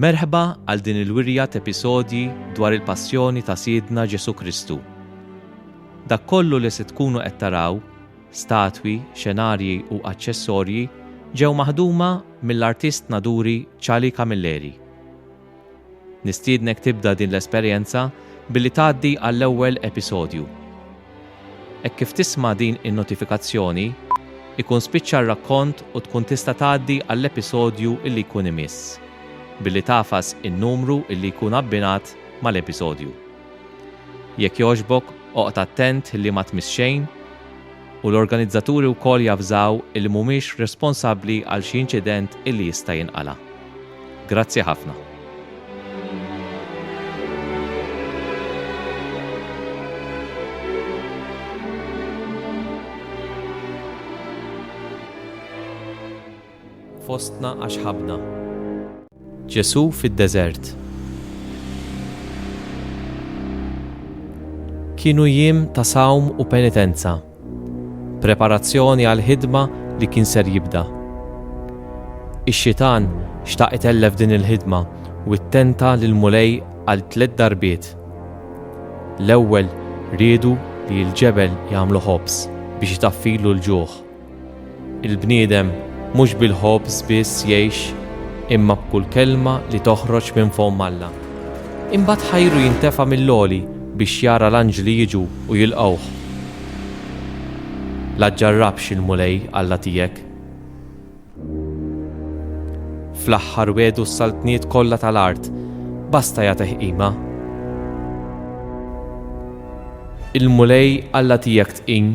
Merħba għal din il-wirja t'episodji dwar il-passjoni ta' Sidna Ġesu Kristu. Dak kollu li se tkunu qed taraw Statwi, xenarji u aċċessorji ġew maħduma mill-artist naduri Charlie Camilleri. Nistiednek tibda din l-esperjenza billi tgħaddi għall-ewwel episodju. Hekk kif tisma' din in-notifikazzjoni, ikun spiċċa r-rakkont u tkun tista' tgħaddi għall-episodju li jkun imiss, billi tagħfas in-numru li jkun abbinat mal-episodju. Jekk jogħġbok oqgħod attent li ma tmiss xejn u l-organizzaturi wkoll javżaw illi mhumiex responsabbli għal xi inċident illi jista' jinqala'. Grazzi ħafna. fostna għax ħabbna. Ġesù fid-deżert. Kienu jiem ta' sawm u penitenza, preparazzjoni għal ħidma li kien ser jibda. Ix-xitan xtaq itellef din il-ħidma u ttenta lil mulej għal tliet darbiet. L-ewwel riedu li l-ġebel jagħmlu ħobż biex itaffilu l-ġuħ. Il-bniedem mhux bil-ħobż biss jgħix imma b'kull kelma li toħroġ minn fomm Alla. Imbagħad ħajru jintefa' mill-għoli biex jara l-anġli jiġu u jilqgħuh. La ġġarrabx il-Mulej Alla tiegħek. Fl-aħħar wegħdu s-saltniet kollha tal-art, basta jagħtih qima. Il-Mulej Alla tiegħek tqim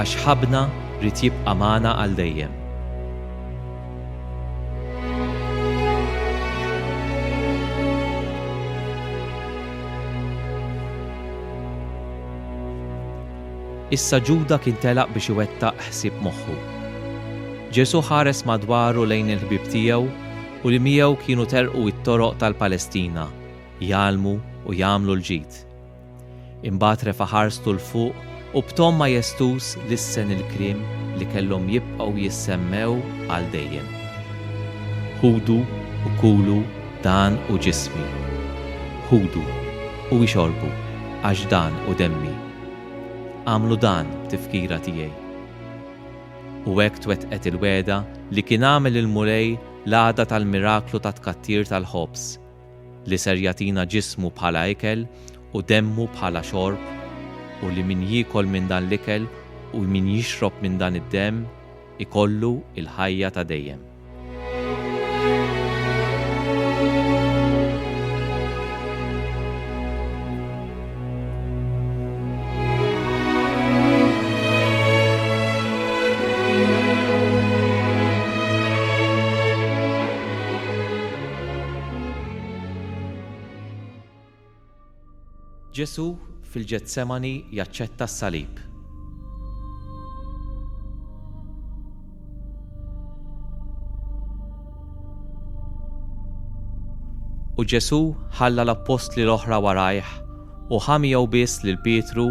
Għax ħabna ried jibqa' magħna għal dejjem. Issa Ġuda kien telaq biex iwettaq ħsieb moħħu. Ġesù ħares madwaru lejn il-ħbieb tiegħu u li miegħu kienu telqu t-toroq tal-Palestina jgħallmu u jagħmlu l-ġid. Imbagħad refa' ħarstu 'l fuq u b'ton majestuż lissen il-kliem li kellhom jibqgħu jissemmew għal dejjem, Ħudu u kulu, dan hu ġismi. Ħudu u ixorbu, għax dan hu demmi. Agħmlu dan b'tifkira tiegħi. U hekk twettqet il-wegħda li kien għamel il-Mulej l-għada tal-miraklu tat-tkattir tal-ħobż, li ser jagħtina ġismu bħala ikel u demmu bħala xorb, u li min jiekol minn dan l-ikel u min jixrob minn dan id-demm ikollu l-ħajja ta' dejjem. Ġesù fil-Ġetsemani jaċċetta s-salib. U Ġesù ħalla l-appostli l-oħra warajh u ħa miegħu biss lil Pietru,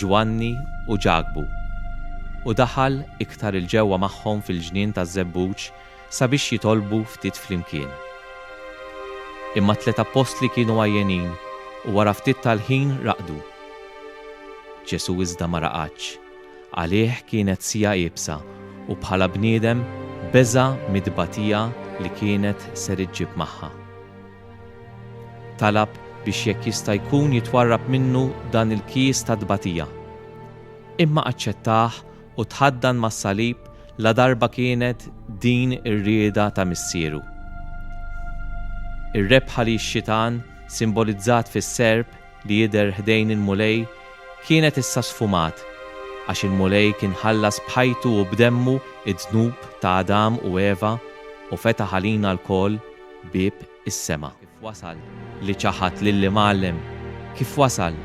Ġwanni, u Ġakbu. U daħal iktar 'il ġewwa magħhom fil-ġnien taż-żebbuġ sabiex jitolbu ftit flimkien. Imma t-tliet appostli kienu għajjenin u wara ftit tal-ħin raqdu. Ġesù iżda ma raqadx. Għalih kienet siegħa iebsa u bħala bniedem beża' mit-tbatija li kienet ser iġġib magħha. Talab biex jekk jista' jkun jitwarrab minnu dan il-kies ta' tbatija. Imma aċċettah u tħaddan mas-salib ladarba kienet din ir-rieda ta' Missieru. Ir-rebħa li x-xitan, simbolizzat fis-serp li jidher ħdejn il-Mulej, kienet issa sfumat, għax il-Mulej kien ħallas b'ħajtu u b'demmu d-dnub ta' Adam u Eva u fetaħ għalina lkoll bieb is-sema. Kif wasal li ċaħad lill-Imgħallem? Kif wasal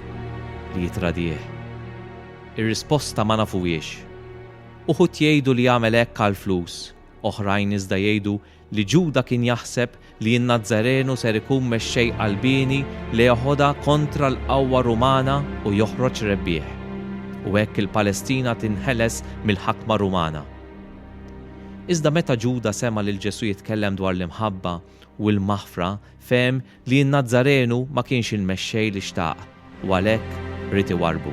li jittradih? Ir-risposta ma nafuhiex. Uħud jgħidu li għamel hekk għall-flus, oħrajn iżda jgħidu li Ġuda kien jaħseb li n-Nazzarenu ser ikun mexxej qalbieni li jeħodha kontra l-qawwa Rumana u joħroġ rebbieħ, u hekk il-Palestina tinħeles mill-ħakma Rumana. Iżda meta Ġuda sema' lil Ġesù jitkellem dwar l-imħabba u l-maħfra, fehem li n-Nazzarenu ma kienx il-Mexxej li xtaq u għalhekk ried iwarrbu.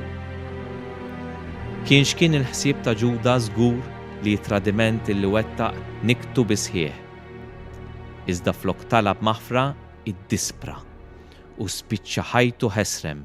Kien x'kien il-ħsieb ta' Ġuda, żgur li t-tradiment li wettaq niktu bis-sħiħ. Iżda flok talab maħfra, iddispra u spiċċa ħajtu ħesrem.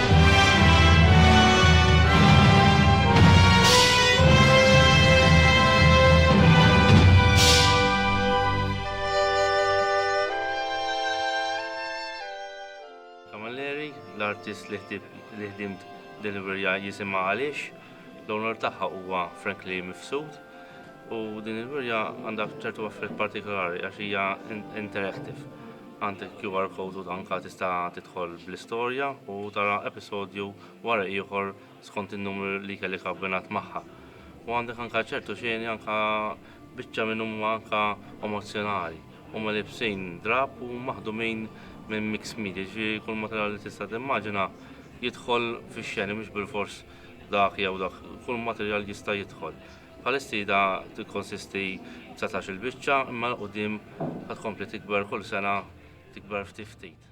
l-artist li ħdimt deliverja jisima għaliex, l-onor tagħha huwa frankly mifsud u din il-wirja għandha ċertu affarijiet partikolari għax hija interactive. Għand il-QR code u anke tista' tidħol bl-istorja u tara episodju wara ieħor skont in-numru li kellek abbinat magħha. U għandek anke ċertu xeni anke biċċa minn huma anke emozzjonali. Huma libsin drab u maħdumin minn mix media, ġifieri kull materjal li tista' timmaġina jidħol fix-xeni mhux bilfors dak jew dak, kull materjal jista' jidħol. Bħalissida tikkonsisti b'satax il-biċċa imma 'l quddiem ħa tkompli tikber kull sena tikber ftit ftit.